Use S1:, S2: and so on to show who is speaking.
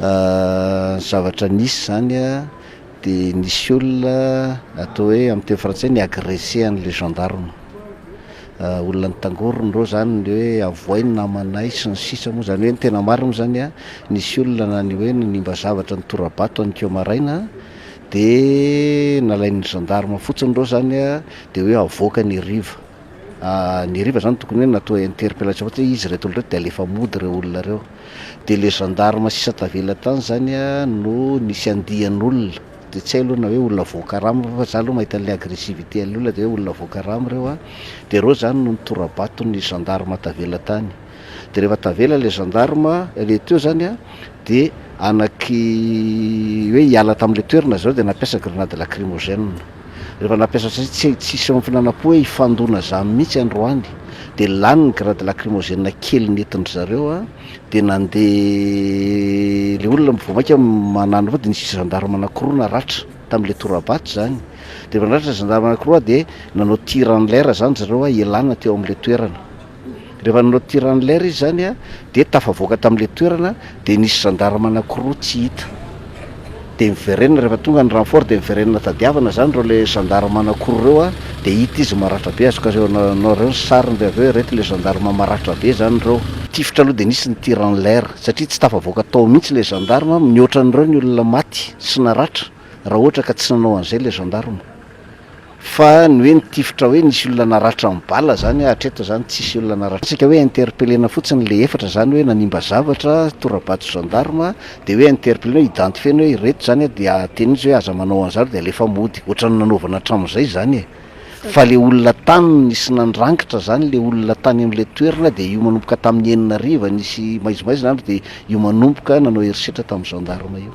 S1: zavatra nisy izany dia nisy olona atao hoe amin'ny teny frantsay ni agressé an'ilay gendarme, olona nitangorona ireo izany ny hoe avoay ny namanay sy ny sisa moa izany hoe ny tena marina izany nisy olona na ny hoe nanimba zavatra nitora-bato an'ikeo maraina dia nalain'ny gendarme fotsiny ireo izany dia hoe avoaka ny heriva, ny heriva izany tokony hoe natao interpellation fotsiny hoe iza ireto olona ireto dia alefa mody ireo olona ireo. dia le gendarme sisa tavela tany zany a no nisy andian'olona de tsy hay aloha na hoe olona voakarama ve fa za aloha mahita an'le agressivité an'le olona de hoe olona voakarama reo a de reo zany no nitora-bato ny gendarme tavela tany de rehefa tavela le gendarme le teo zany a de anaky hoe hiala tam'le toerana zareo de nampiasa grenade lacrymogène rehefa nampiasa satria tsy tsisy am finanam-po hoe hifandona zany mihitsy androany dia lany ny grade lacrymogène kely nentindry zareo a dia nandeha le olona vao maika manana fa dia nisy gendarme anakiroa naratra tamle torabato zany dia efa naratra ny gendarme anakiroa dia nanao tir en l'air zany zareo a ialana teo amle toerana Rehefa nanao tir en l'air izy izany dia tafavoaka tamin'ilay toerana dia nisy gendarme anankiroa tsy hita dia miverenina rehefa tonga ny renfort dia miverenina tadiavina izany ireo ilay gendarme anankiroa ireo dia hita izy maratra be, azoko aseho anareo ny sariny dia avy eo ireto ilay gendarme maratra be izany ireo. Tifitra aloha dia nisy ny tir en l'air satria tsy tafavoaka tao mihintsy ilay gendarme, mihoatra an'ireo ny olona maty sy naratra raha ohatra ka tsy nanao an'izay ilay gendarme. Fa ny hoe ny tifitra hoe nisy olona naratra amin'ny bala zany hoe hatreto zany tsisy olona naratra tsika hoe interpellena fotsiny le efatra zany hoe nanimba zavatra torabato gendarme de hoe interpellena hoe identifiena hoe ireto zany a dia teny mitsy hoe aza manao anzao de alefa mody otrany nanaovana hatramizay zany e fa le olona tany nisy nandrangitra zany le olona tany amle toerana de io manomboka tamin'ny enina hariva nisy maizimaizina andro de io manomboka nanao herisetra tamin'ny gendarme io.